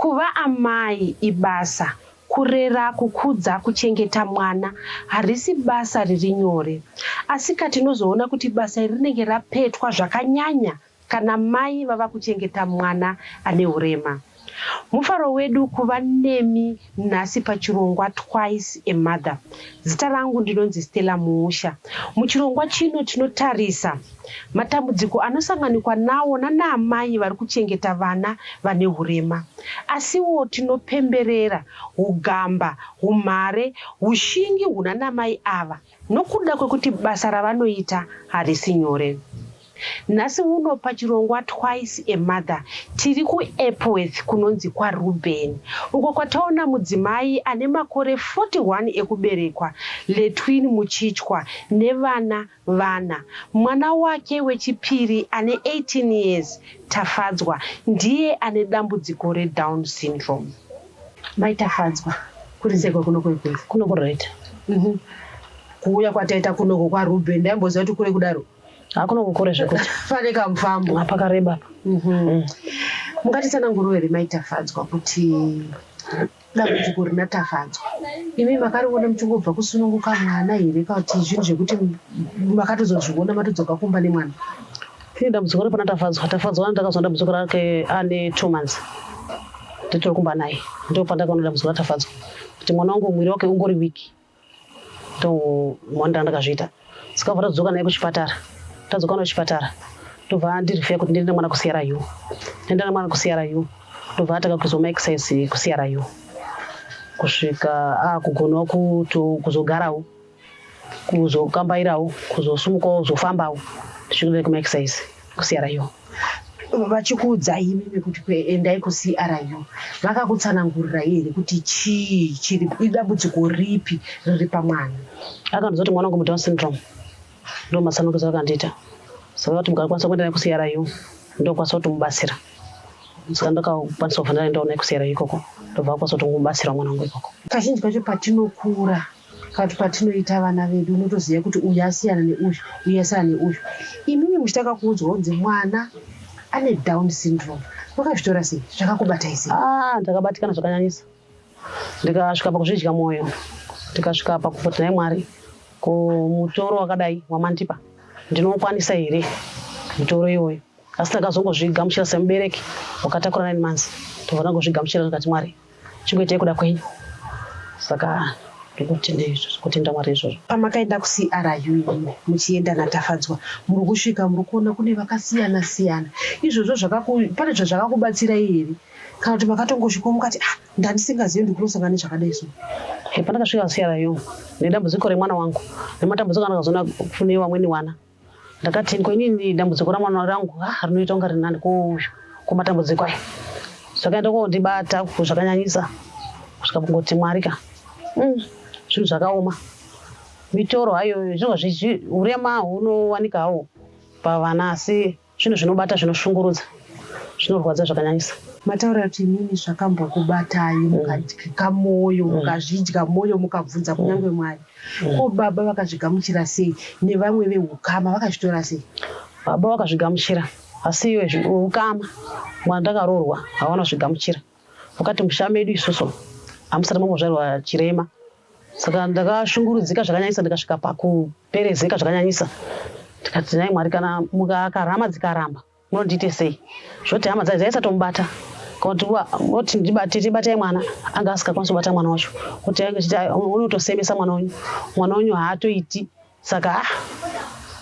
Kuva amai ibasa. Kurera, kukudza, kuchengeta mwana harisi basa riri nyore. Asika tinozoona kuti basa iri rinenge rapetwa zvakanyanya kana mai vava kuchengeta mwana ane urema. Mufaro wedu kuva nemi nhasi pachirongwa Twice a Mother. Zita rangu ndinonzi Stella Muusha. Muchirongwa chino tinotarisa matambudziko anosanganikwa nawo nanaamai vari kuchengeta vana vane hurema. Asiwo tinopemberera hugamba, humhare, hushingi hunanamai ava. Nokuda kwekuti basa ravanoita harisi nyore, nhasi uno pachirongwa Twice a Mother tiri kuEpworth kunonzi kwaRuben uko kwataona mudzimai ane makore 41 ekuberekwa, Letwin Muchichwa, nevana vana. Mwana wake wechipiri ane 18 years, Tafadzwa, ndiye ane dambudziko reDown syndrome. Mai Tafadzwa, kuri seko kuno kuri kure. Kuno kuri right. Mhm. Kuuya kwataita kunoko kwa Ruben ndaimboziva kuti kure kudaro. Ha kuno kukure zvekuti. Pane kamufambo. Apa kareba apa. Mhm. Mm. Mungatitsanangurire here Mai Tafadzwa kuti dambudziko rina Tafadzwa imi makariona muchingobva kusununguka mwana here kana kuti zvinhu zvekuti makatozozviona matodzoka kumba nemwana? Ini dambudziko repana Tafadzwa, Tafadzwa ani ndakazwa dambudziko rake ane two months nditori kumba naye, ndipo pandakaona dambudziko raTafadzwa kuti mwana wangu mwiri wake ungori weak, ndo mwana ndandakazviita sikabva tadzoka naye kuchipatara, tadzoka naye kuchipatara ndobva andirifeya kuti ndiende mwana kuCRU, ndienda nemwana kuCRU ndobva atanga kuizwa maexercise kuCRU kusvika akugonawo kuzogarawo kuzokambairawo kuzosumukawo kuzofambawo tichikuda kumaexercise kucru vachikuudzai imimi kuti kuendai kucru vakakutsanangurirai here kuti chii chiri idambudziko ripi riri pamwana akandiza kuti mwana wangu mudown syndrome ndo masanukisa akandiita saka kuti mukakwanisa kuenda naye kucru ndokwanisa kuti mubatsira saka ndakakwanisa kuvhana ndaenda naye kucru ikoko ndobva akwanisa kuti mubatsira mwana wangu ikoko kazhinji kacho patinokura But patinoita vana vedu unotoziva kuti uyu asiyana neuyu uyu asiyana neuyu. Imimi muchitanga kuudzwa kunzi mwana ane down syndrome makazvitora sei zvakakubatai sei? Ah, ndakabatikana zvakanyanyisa ndikasvika pakuzvidya mwoyo ndikasvika pakuvoti nhai Mwari ko mutoro wakadai wamandipa ndinoukwanisa here mutoro iwoyo. asi takazongozvigamuchira semubereki wakatakura nine months tobvana kuzvigamuchira tikati mwari chingoitai kuda kwenyu saka ndikutenda izvozvo kutenda mwari izvozvo pamakaenda kucru imi muchienda natafadzwa muri kusvika muri kuona kune vakasiyana siyana izvozvo pane zvazvakakubatsirai here kana kuti makatongosvikawo mukati ah ndandisingazivi ndikulosangana nezvakadai so pandakasvika kucru nedambudziko remwana wangu nematambudziko andakazoona kune vamweni wana ndakati ko inini dambudziko ramwana rangu ah, rinoita kunga rinani ko matambudziko aya zvakaenda kondibata zvakanyanyisa kusvika kungoti mwari ka mm, zvinhu zvakaoma mitoro hayo zvinova zvichi urema hunowanika hawo pavana asi Zvinhu zvinobata zvinoshungurudza zvinorwadza zvakanyanyisa. Mataura kuti inini zvakambokubatai mm. mukadyika mwoyo mm. mukazvidya mwoyo mukabvunza mm. kunyange mwari ko baba vakazvigamuchira sei nevamwe veukama vakazvitora sei baba vakazvigamuchira asi iwe ukama mwana ndakaroorwa hawana zvigamuchira Wakati musha medu isusu hamusati mambozvarwa chirema saka ndakashungurudzika zvakanyanyisa ndikasvika pakuperezeka zvakanyanyisa tikati nai mwari kana mukakarama dzikaramba munondiite sei zvoti hama dzai dzaisatomubata voti ndibate tibatai mwana anga asingakwanisi kubata mwana wacho kuti ainge chiti unotosemesa mwana wenyu mwana wenyu haatoiti saka ah,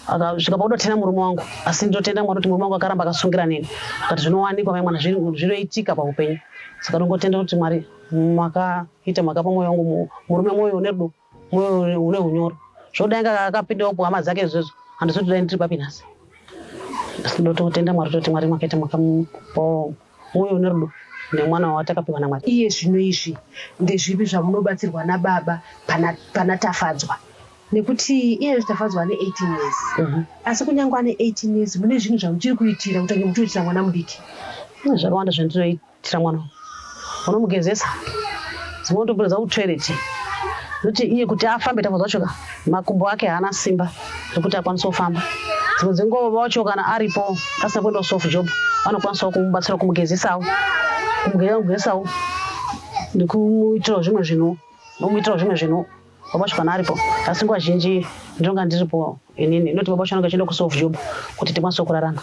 akasvika pakuti atina murume wangu asi ndotenda mwari kuti murume wangu akaramba akasungira neni akati zvinowanikwa mai mwana zvinoitika paupenyu saka ndongotenda kuti mwari makaita makapa mwoyo wangu murume mwoyo une rudo mwoyo une unyoro zvoda inga akapindawo kuhama dzake izvozvo handizoti dai ndiri papi nhasi asi ndototenda mwari toti mwari makaita makamupawo Mwoyo une rudo nemwana wawatakapiwa naMwari. Iye zvino izvi ndezvipi zvamunobatsirwa nababa pana, pana Tafadzwa? Nekuti iye Tafadzwa ane 18 years. Mm -hmm. Asi kunyange ane 18 years mune zvinhu zvamuchiri kuitira kutange muchioitira mwana mudiki. Mune zvakawanda zvandinoitira mwana unomugezesa dzimwe ndopinda dzakutoilet noti iye kuti afambe Tafadzwa choka makumbo ake haana simba zvekuti akwanise kufamba dzimwe dzenguva baba wacho kana aripo asina kuenda kusoft job vanokwanisawo kumubatsira kumugezesawo kumugezesawo nekumuitirawo zvimwe zvinhu nomuitirawo zvimwe zvinhu baba wacho kana aripo asi nguva zhinji ndinonga ndiripo inini inoti baba wacho anonga achienda kusoft job kuti tikwanise kurarama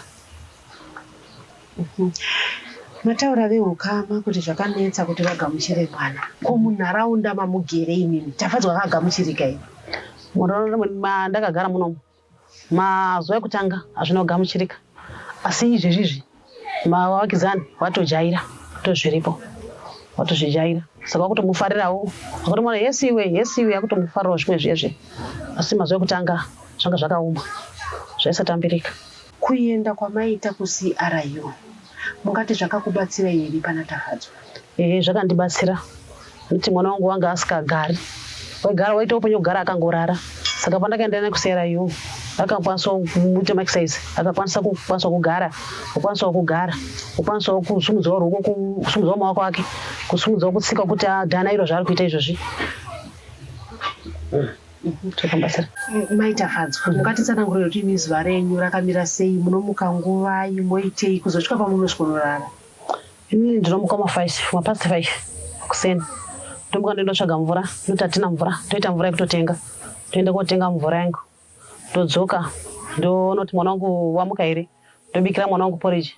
Mataura vehukama kuti zvakanetsa kuti vagamuchire mwana ko munharaunda mamugere imimi Tafadzwa akagamuchirika here munharaunda mwedu mandakagara munomu mazuva ekutanga hazvina kugamuchirika asi izvezvizvi mavakidzani vatojaira tozviripo watozvijaira saka wakutomufarirawo akutomona yes iwe yes iwe akutomufarirawo zvimwe zviye zviye asi mazuva ekutanga zvanga zvakaoma zvaisatambirika Kuenda kwamaita kuCRU mungati zvakakubatsirai here pana Tafadzwa? Ehe zvakandibatsira nekuti mwana wangu wanga asikagari waigara waita upenyu kugara akangorara saka pandakaenda naye kuCRU akakwanisa kuita maexercise akakwanisa kukwanisa kugara kukwanisawo kugara kukwanisawo kusumudzawo ruoko kusumudzawo maoko ake kusumudzawo kutsika kuti adhana iro zvaari kuita izvozvi Mm-hmm. mai tafadzwa mukatitsanangurira kuti imi zuva renyu rakamira sei munomuka nguvai moitei kuzosvika pamunosvikonorara ini ndinomuka mafive mapast five kuseni ndomuka ndoindotsvaga mvura noti hatina mvura toita mvura yekutotenga toenda kotenga mvura yangu ndodzoka ndonoti mwana wangu wamuka here ndobikira mwana wangu poriji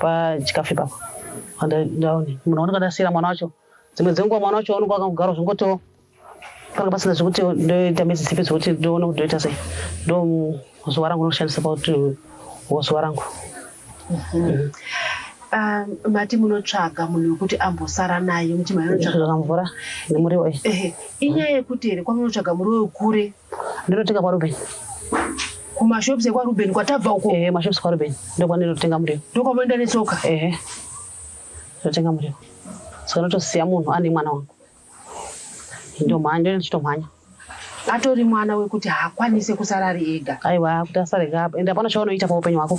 pachikafu ipapo ndaone munhu wanenge ndasiira mwana wacho dzimwe dzenguva mwana wacho wanenge wakagara zvingotiwo panga pasina zvekuti ndoita midzi dzipi dzekuti ndoona kuti ndoita sei ndo zuva rangu rinoshandisa pakuti zuva rangu mhm. um, mati munotsvaga munhu wekuti ambosara naye muti maanotsvaga mvura nemuriwo inyaya yekuti here kwamunotsvaga muriwo wekure Ndinotenga kwa Ruben. Kumashops ekwa Ruben kwatabva uko. Eh, mashops kwa Ruben. Ndokwa ndinotenga muriwo. Ndokwa moenda netsoka. Eh. Ndinotenga muriwo. Saka ndotosiya munhu ane mwana wangu. Ndomhanya, ndinochitomhanya. Atori mwana wekuti haakwanise kusara ari ega. Aiwa, kuti asare gaba. Enda pano chaunoita paupenyu hwako.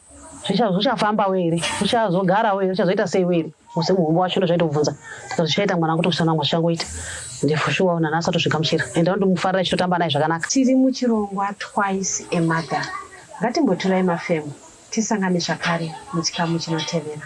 zvichafamba we here uchazogara we here uchazoita sei we here musi muhombo wacho ndo zvaitobvunza tika zvichaita mwana kuti kusana mwa zvichangoita ndifushuwa una nasa tozvigamuchira and anondi mufarira ichitotamba naye zvakanaka tiri muchirongwa twice a mother ngatimboturai mafemo tisangane zvakare muchikamu chinotevera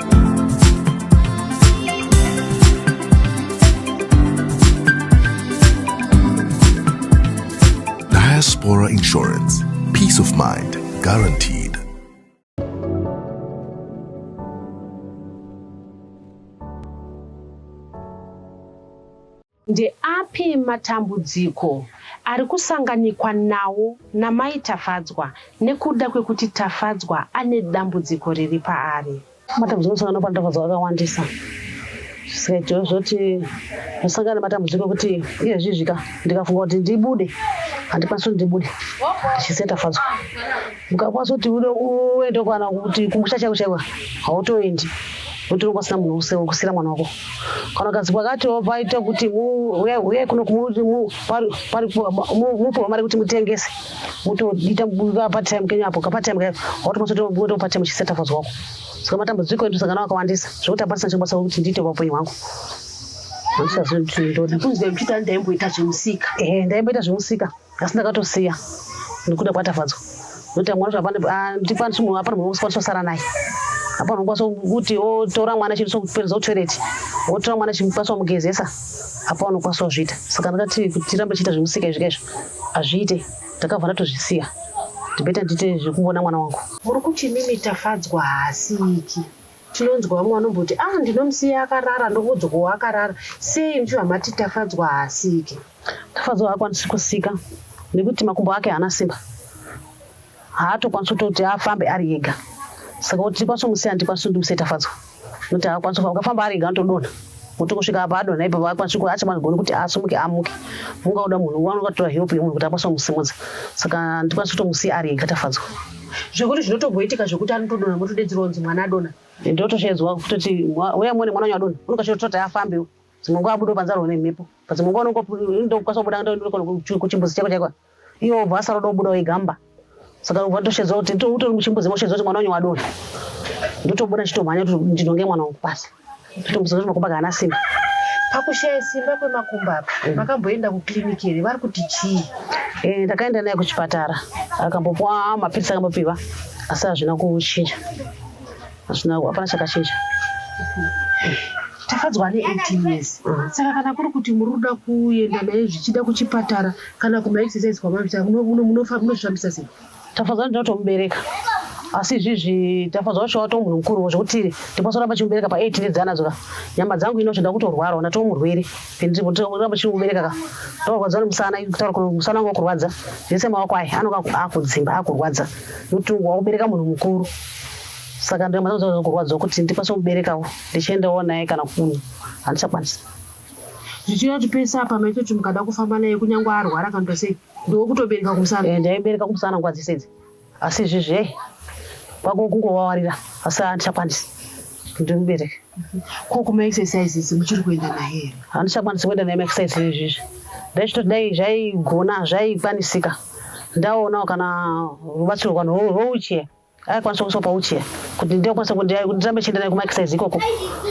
Diaspora Insurance. Peace of mind guaranteed. Ndeapi matambudziko ari kusanganikwa nawo naMai Tafadzwa nekuda kwekuti Tafadzwa ane dambudziko riri paari? Matambudziko anosangana pana Tafadzwa akawandisa zvisikaitiwo zvoti ndosangana nematambudziko ekuti iye zvizvika ndikafunga kuti ndibude handikwanisi kuti ndibude ndichisiya Tafadzwa. ukakwanisa kuti ude uende kana kuti kumusha chaiko chaiko hautoendi utori kwasina munhu use wekusira mwana wako kana ukanzi kwakati paita kuti uyai kuno mupiwa mari kuti mutengese mutoita patime kenyu apo kapatime kayo hautokwasa kutoenda kupatime uchiseta fazi wako saka matambudziko edu sangana akawandisa zvekuti apandisa chikubasa kuti ndiite vapenyu hwangu handisazoiti ndoda kunzi ndaimboita zvemusika ehe ndaimboita zvemusika asi ndakatosiya nekuda kwaTafadzwa nekuti mwana zvapandipandisi munhu apana munhu wekukwanisa kusara naye apana unokwanisa kuti otora mwana chinosokupereza kutoilet wotora mwana chimukwanisa kumugezesa apa unokwanisa kuzviita saka ndakati kuti tirambe chiita zvemusika izvika izvo hazviite ndakabva ndatozvisiya ndibeta ndiite zvekuvona mwana wangu muri kuti mimi tafadzwa haasiki Tinonzwa vamwe vanomboti ah ndinomusiya akarara ndokuudzwa ko akarara sei muchibva mati Tafadzwa haasike. Tafadzwa haakwanisi kusika nekuti makumbo ake haana simba haatokwanisi kutoti afambe ari ega saka kuti ndikwanise kumusiya handikwanisi kuti ndimusiye Tafadzwa nekuti haakwanisi kufamba ukafamba ari ega anotodonha kuti kusvika apa adonha ipapo haakwanisi kuti achamagoni kuti asumuke amuke mungaoda munhu wanoda kutora help yemunhu kuti akwanise kumusimudza saka handikwanisi kutomusiya ari ega Tafadzwa. zvekuti zvinotomboitika zvekuti anotodonha motodedzerwa kunzi mwana adonha ndotoshedzwa kutoti uya muone mwana wanyu adonha unokachototi afambe dzimwe nguva abudo panze arwa nemhepo padzimwe nguva unokwanisa kubuda kuchimbuzi chako chaiko iwo obva asaroda kubuda wegamba saka ubva ndoshedzwa kuti utori muchimbuzi moshedzwa kuti mwana wanyu wadonha ndotobuda chitomhanya kuti ndinonge mwana wangu pasi Ndinombonzwa kuti makumbo anga haana simba. Pakushaya simba kwemakumbo apa makamboenda kukiriniki here? Vari kuti chii? Eh, ndakaenda naye kuchipatara akambopuwa mapiritsi akambopiwa asi hazvina kuchinja hazvina hapana chakachinja tafadzwa ane 18 years mm. saka kana kuri kuti muri kuda kuenda naye zvichida kuchipatara kana kumaexercise kwamavita munozvifambisa sei Tafadzwa ndinotomubereka asi izvizvi Tafadzwa wacho watoo munhu mukuru zvekuti ndikwasoramba chimubereka pa 8 ndidzi anadzo ka nyama dzangu ino zvenda kutorwarawo natoo murwere ndirikuramba chimubereka ka ndokurwadza nemusana kutaura kuti musana wangu wakurwadza zvese maoko ayi anonga akudzimba akurwadza nekuti wakubereka munhu mukuru saka nyama dzangu dzaa kurwadza kuti ndikwanise kumuberekawo ndichiendawo naye kana kunhu handichakwanisa zvichirati pese apa maitoti mukada kufamba naye kunyange arwara kana tosei Ndokutobereka kumusana. Eh, ndaibereka kumusana nguva dzese idzi. Asi izvi zve kwako kungovawarira asi handichakwanisi kuti mubereke. Ko kuma exercises muchiri kuenda naye here? Handichakwanisi kuenda naye maexercises izvizvi. Ndaitoti dai zvaigona zvaikwanisika ndaonawo kana rubatsiro rwano rwouchie. aikwanisa kuiswa pauchiya kuti ndikwanisa kuti ndirambe chienda naye kumaexercise ikoko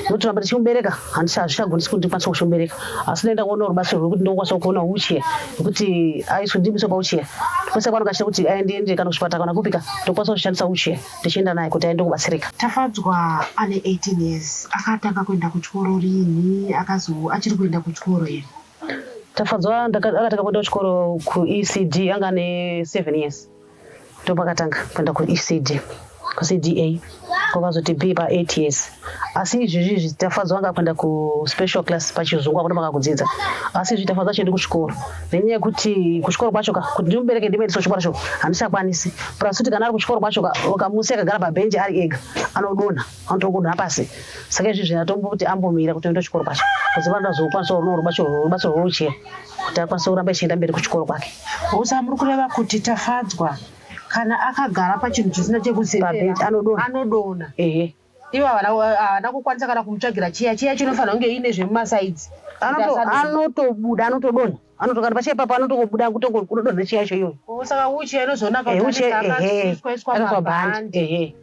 nokuti ramba ndichimubereka handisi hazvichagonisi kuti ndikwanisa kuchimubereka asi ndaenda kuona rubatsiro rwekuti ndokwanisa kuona uchiya nekuti aiswe ndimuiswe pauchiya kwese kwanonga achita kuti aende ende kana kuchipatara kana kupika ndokwanisa kushandisa uchiya ndichienda naye kuti aende kubatsirika tafadzwa ane 18 years akatanga kuenda kuchikoro rinhi akazo achiri kuenda kuchikoro here tafadzwa akatanga kuenda kuchikoro kuecd anga ane 7 years ndopakatanga kuenda kuecd kucda kwakazoti be pa eight years asi izvizvi izvi tafadzwa anga kuenda kuspecial class pachizungu akuti maka kudzidza asi izvi tafadzwa chiendi kuchikoro nenyaya yekuti kuchikoro kwacho ka kuti ndimubereke ndimuendesa kuchikoro cho handichakwanisi plus kuti kana ari kuchikoro kwacho ka ukamusi akagara pabhenji ari ega anodonha anotokodonha pasi saka izvi zvinatombo kuti ambomira kuti oenda kuchikoro kwacho kuziva ndazokwanisa rubatsiro rwouchera kuti akwanise kuramba ichienda mberi kuchikoro kwake usa muri kureva kuti tafadzwa kana akagara pachinhu chisina chekuseera anodona, anodona. Ehe. ivo havana kukwanisa kana kumutsvagira chiya chiya chinofanira kunge iine zvemumasaidzi anotobuda anotodona anotokati pachiya ipapo anotokobuda kutongokudodona chiya icho iyoyo saka uchiya inozoonaka kuti anozoiswa bhandi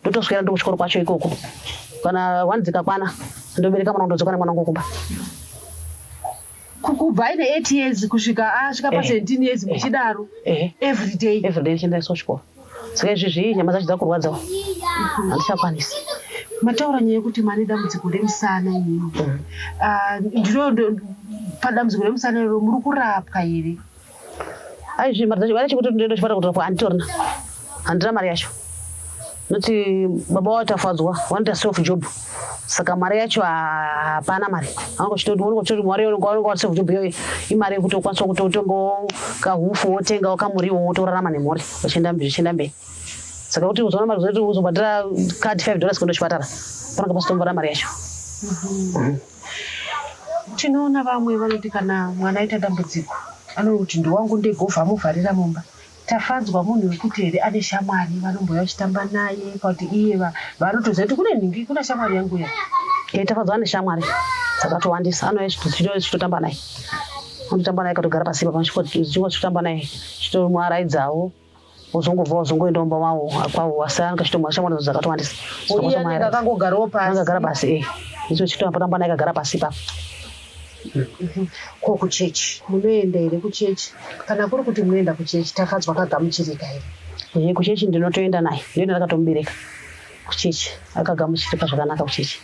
ndotoswera ndo kuchikoro kwacho ikoko kana one dzikakwana ndobereka mwana ndodzoka nemwana wangu kumba kubva aine eight years kusvika asvika pa eh. seventeen years eh. muchidaro eh. everyday everyday chiendaiswa kuchikoro saka izvi zvii nyama dzacho dzakurwadzawo handichakwanisi mataura nyaya yekuti mane dambudziko remusana inini mm. ah, ndiro padambudziko remusana iro muri kurapwa here Aizvi mari dzacho vanacho kuti ndoenda chipata kuti anditorina handina mari yacho noti baba wao tafadzwa wanoita self job saka mari yacho hapana mari angochitoti mari unonga wa self job iyoyo imari yekuti ukwanisa kuti utombo kahufu wotenga wakamuriwo wotorarama nemhuri zvichienda mberi saka kuti uzoona mari zoti uzobhadhira card five dollars kuenda chipatara panonga pasitomboda mari yacho mm -hmm. Mm -hmm. Tinoona vamwe vanoti kana mwana aita dambudziko anoti kuti ndowangu ndegova amuvharira mumba. Tafadzwa munhu wekuti here ane shamwari vanombouya vachitamba naye pakuti iye vaanotoziva kuti kune nhingi kuna shamwari yangu iya. Ee Tafadzwa ane shamwari dzakatowandisa anouya chitotamba naye anotamba naye katogara pasipa pachikwa chitamba naye chitomuaraidzawo. wozongobva wazongoenda kumba wavo kwavo wasiyana ngashitomwa shamwari dzakatowandisa akangogarawo pasi akagara pasi e icho chitoambotamba naye akagara pasi ipapo ko kuchechi munoenda here kuchechi kana kuri kuti munoenda kuchechi tafadzwa akagamuchirika here ye kuchechi ndinotoenda naye ndoenda ndakatomubereka kuchechi akagamuchirika zvakanaka kuchechi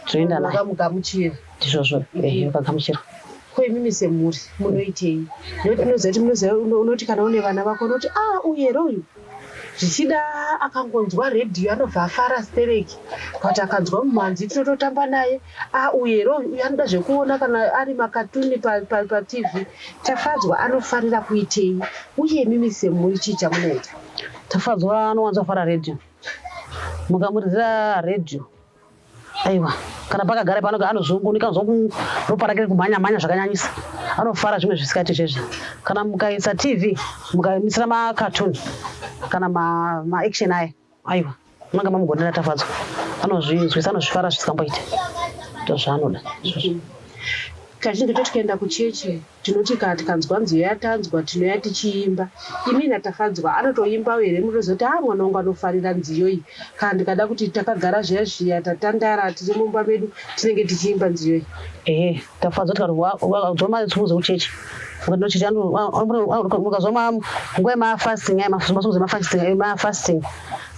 Toenda naye. Makamugamuchira. Ndizvozvo. Ehe, ukagamuchira. Ko imimi semhuri munoitei? Nekuti unoziva kuti munoziva unoti kana une vana vako unoti ah uye ro uyu zvichida akangonzwa redhiyo anobva afara stereki but akanzwa mumhanzi tinototamba naye ah, uye ro uyu anoda zvekuona kana ari makatuni patv pa, pa tafadzwa anofarira kuitei uye mimi semhuri chii chamunoita tafadzwa anowanza fara redhiyo mukamuridzira redhiyo aiwa kana pakagara pano anozungunika anzwa ropa rake kumhanya mhanya zvakanyanyisa anofara zvimwe zvisikati zvezvi kana mukaisa tv mukamisira makatuni kana maaction ma aya aiwa munenge mamugonera tafadzwa anozvinzwisa anozvifara zvisikamboite ndozvaanoda izvozvo kazhinji totikaenda kuchechi Tinoti kana tikanzwa nziyo yaTanzwa tinouya tichiimba. Imi naTafadzwa anotoimbawo here munozoti haa mwana wangu anofarira nziyo iyi. Kana ndikada kuti takagara zviya zviya tatandara tiri mumba medu tinenge tichiimba nziyo iyi. Ehe Tafadzwa tikati ukanzwa matsvimbo dzekuchechi ukandinochechi ukazwa nguva yemafasting ayo matsvimbo dzemafasting ayo mafasting.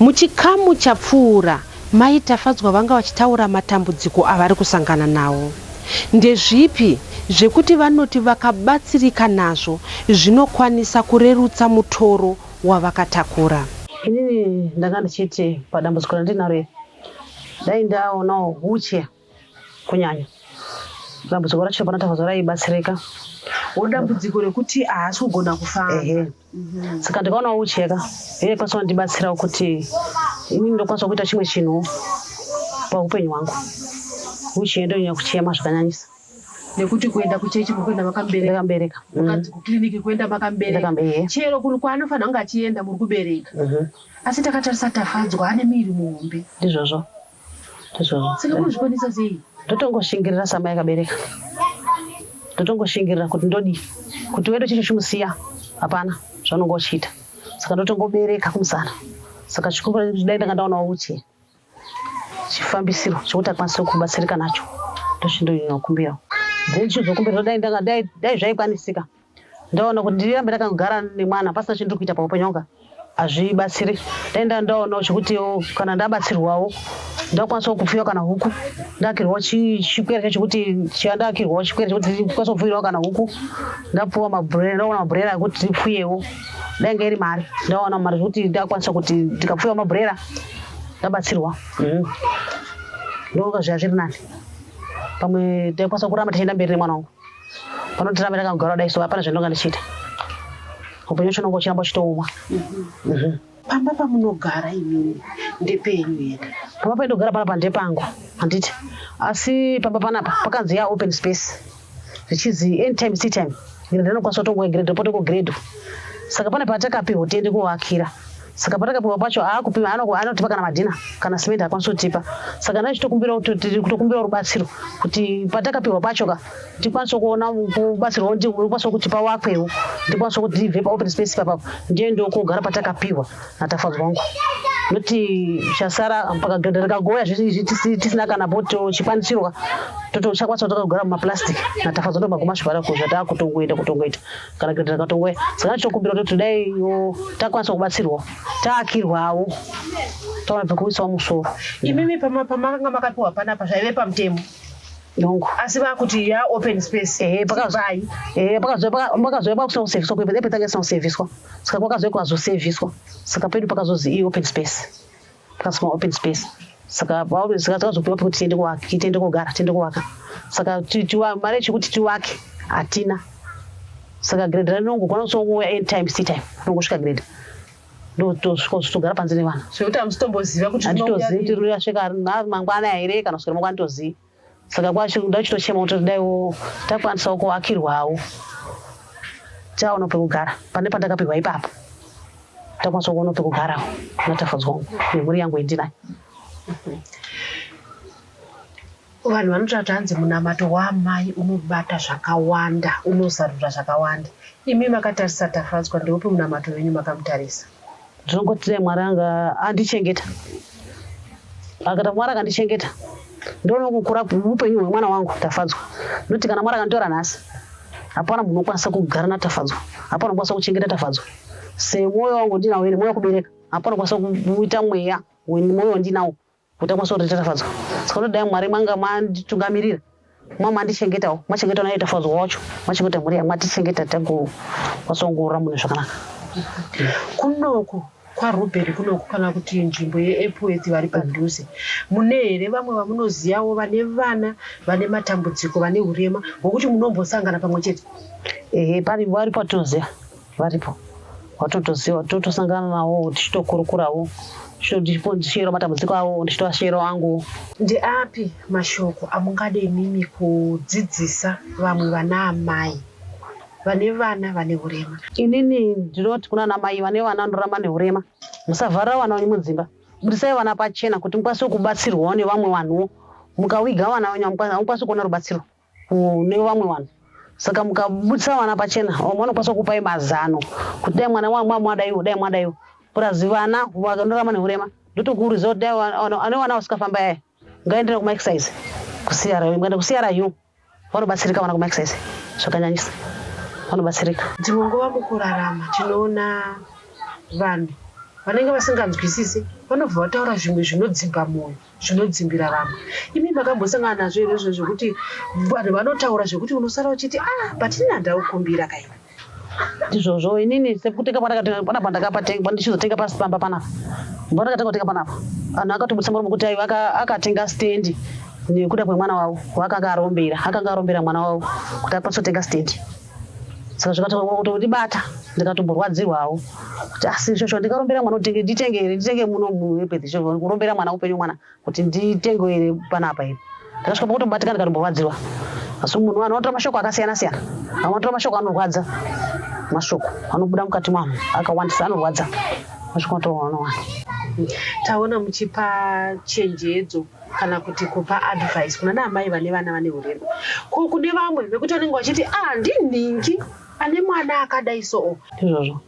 Muchikamu chapfuura, Mai Tafadzwa vanga vachitaura matambudziko avari kusangana nawo. Ndezvipi zvekuti vanoti vakabatsirika nazvo zvinokwanisa kurerutsa mutoro wavakatakura. Inini ndanga ndichiti padambudziko randinaro iri dai ndaonawo huche kunyanya dambudziko racho pana tafadzwa raibatsirika dambudziko rekuti haasi kugona kufamba mhm. saka ndikaona ucheka iye kwanisa wandibatsirawo kuti inini ndokwanisa kuita chimwe chinhu paupenyu hwangu uchienda unyanya kuchema zvakanyanyisa nekuti kuenda kuchechi mukuenda makamberekambereka mm. kukiriniki kuenda makambereka chero kuri kwaanofanira kunge achienda muri kubereka mhm. asi takatarisa tafadzwa ane miiri muhombe ndizvozvo ndotongoshingirira samai akabereka ndotongoshingirira kuti ndodii kuti wedu chicho chimusiya hapana zvaunonga uchiita saka ndotongobereka kumusana saka chikumbura kuti dai ndanga ndaonawo uchi chifambisiro chokuti akwanise kubatsirika nacho ndochindokumbirawo then chizokumbira dai ndanga dai zvaikwanisika Ndaona kuti ndirirambe ndakangogara nemwana pasina chindiri kuita paupenyu hwanga hazvibatsiri. Ndaenda ndaonawo chekuti kana ndabatsirwawo ndakwanisawo kupfuya kana huku ndaakirwawo chikwere chacho kuti chandaakirwawo chikwere chekuti ndikwanisa kupfuirawo kana huku ndapuwa mabhurera ndaona mabhurera ekuti ndipfuyewo ndainge iri mari ndaona mari zvekuti ndakwanisa kuti ndikapfuyawo mabhurera ndabatsirwa mhm. ndoka zviya zviri nani pamwe taikwanisa kuramba tichienda mberi nemwana wangu Panotiramba takagara kudai so hapana zvandonga ndichiita. Upenyu hwacho unonga uchiramba uchitooma. Pamba pamunogara imimi ndepenyu here? Pamba painogara panapa ndepangu handiti? Asi pamba panapa pakanzi ya open space zvichizi anytime tea time grade anokwanisa kutongoa grade repote ko grade saka pane patakapihwa tiende kuvakira saka patakapiwa pacho aakupima anotipa kana madhina kana simende akwanisa kutipa saka ndai chitokumbirakutokumbira rubatsiro kuti patakapiwa pacho ka tikwanise kuona kubatsirwa ndikwanisa kuti pawakwewo ndikwanisa kuti ndibve paopen space papapo ndiye ndokugara patakapiwa natafadzwa wangu noti chasara pakagagoya tisina kana poto chikwanisirwa totochakwanisa kutokagara mumaplastic natafadzwa ndomagumasvivara kuzvataakutongoita kutongoita kana kuita takatongoya saka tinokumbira kuti dai takwanisa kubatsirwa taakirwawo taona pekuisawo musoro imimi pamakanga makapiwa panapa zvaive pamutemo nongo asi vakuti ya open space eh pakazai eh pakazoi pakazoi pakusina kuseviswa kuipa epe tange sina kuseviswa saka kwakazoi kwazoseviswa saka pedu pakazozi i open space Plus ma open space. Saka pauri saka takazopiwa pekuti tiende kuwaka, tiende kogara, tiende kuwaka. Saka mari yechikuti tiwake hatina. Saka grade ranongo kwana kusongo end time tea time nongosvika grade. Ndotosvika kutogara panze nevana. Zvekuti amusitomboziva kuti ndinoziva kuti rinoyasvika mangwana here kana kusvika mangwana nditoziva. saka kwacho kuda uchitochema kuti daiwo takwanisawo kuakirwawo chaono pekugara pane pandakapihwa ipapo takwanisa kuona pekugara natafudzwa nemhuri yangu indinayo vanhu vanotati hanzi munamato waamai unobata zvakawanda unozarura zvakawanda imi makatarisa tafadzwa ndeupi munamato wenyu makamutarisa Ndinongoti dai Mwari anga andichengeta. Akata Mwari akandichengeta. Ndoona kukura upenyu hwemwana wangu Tafadzwa. Noti kana Mwari akanditora nhasi. Hapana munhu unokwanisa kugara na Tafadzwa. Hapana unokwanisa kuchengeta Tafadzwa. Semoyo wangu ndinawo ine moyo kubereka. Hapana unokwanisa kuita mweya. Mwoyo wandinawo. Kuita kwaso kuti Tafadzwa saka kuti dai Mwari manga manditungamirira mwa mandichengetawo machengeta naye Tafadzwa wacho machengeta mhuri yangu matichengeta tago kwasongorora munhu zvakanaka kunoku kwaRuben kunoku kana kuti nzvimbo yeEpworth vari padhuze mune here vamwe vamunoziyawo vane vana vane matambudziko vane urema hwokuti munombosangana pamwe chete ehe pari vari patoziva varipo watotoziva totosangana nawo tichitokurukurawo ndichiyero matambudziko awo ndichitoashero angu ndeapi mashoko amungada imimi kudzidzisa vamwe vana amai vane vana vane urema inini ndinoti kuna namai vane vana vanorama neurema musavharira vana venyu mudzimba budisai vana pachena kuti mukwanise kubatsirwawo nevamwe vanhuwo mukawiga vana venyu hamukwanisi kuona rubatsiro kune vamwe vanhu saka mukabudisa vana pachena vamwe vanokwanisa kukupai mazano kuti dai mwana wangu mwadaiwo dai mwadaiwo purazi vana vanorama neurema ndotokuurizira kuti dai ane vana vasikafamba yaya ngaendera kumaexcise kusiyara ngaenda kusiyara yu vanobatsirika vana kumaexcise zvakanyanyisa vanobatsirika dzimwe nguva mukurarama tinoona vanhu vanenge vasinganzwisisi vanobva vataura zvimwe zvinodzimba mwoyo zvinodzimbira vamwe. Imi makambosangana nazvo here izvo zvekuti vanhu vanotaura zvekuti unosara uchiti ah but ini handaukumbira ka ini ndizvozvo inini sekutenga pandakatenga panapa ndakapatenga pandichizotenga pasamba panapa pandakatenga kutenga panapa vanhu akatobudisa muromo kuti aiwa akatenga stendi nekuda kwemwana wavo waakanga arombera akanga arombera mwana wavo kuti akwanisa kutenga stendi saka zvikatondibata ndikatomborwadzirwawo kuti asi ah, shosho ndingarombera mwana kuti nditenge here nditenge muno muepeth kurombera mwana upenyu mwana kuti nditenge here panapa here ndakasvika pakutobatika ndikatomborwadzirwa asi munhu vanhu vanotora mashoko akasiyana siyana vamwe vanotora mashoko anorwadza mashoko anobuda mukati mwanhu akawandisa anorwadza mashoko anotoona taona muchipa chenjedzo kana kuti kupa advice kuna naamai vane vana vane urema ko kune vamwe vekuti vanenge vachiti ah ndinhingi ane mwana akadai soo izvozvo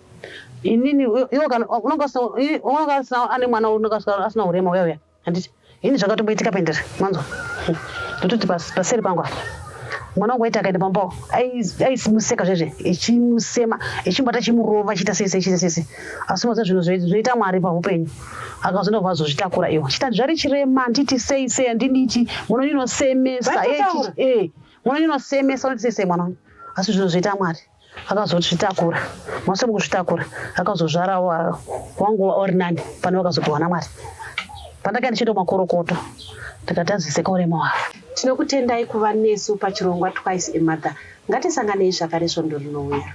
inini unongaasina ane mwana unongaasina urema uya uya handiti ini zvakatomboitika pendere manzwa ndototi paseri pangu apa mwana wangu waiti akaenda pambao aisimuseka zvezve echimusema echimbata chimurova chiita sese chiita sese asi maza zvinhu zvinoita mwari pahupenyu akazonda vazozvitakura iwo chitadzvari chirema handiti sei sei handiditi mwana ndinosemesa eh, mwana ndinosemesa unoti sei sei mwana wangu asi zvinozviita mwari akazozvitakura mase mukuzvitakura akazozvara wangu uri nani pane vakazopiwana mwari pandakaenda ndichiita makorokoto ndikatadziseka urema wavo tinokutendai kuva nesu pachirongwa twice emother ngatisanganei zvakare svondo rinouya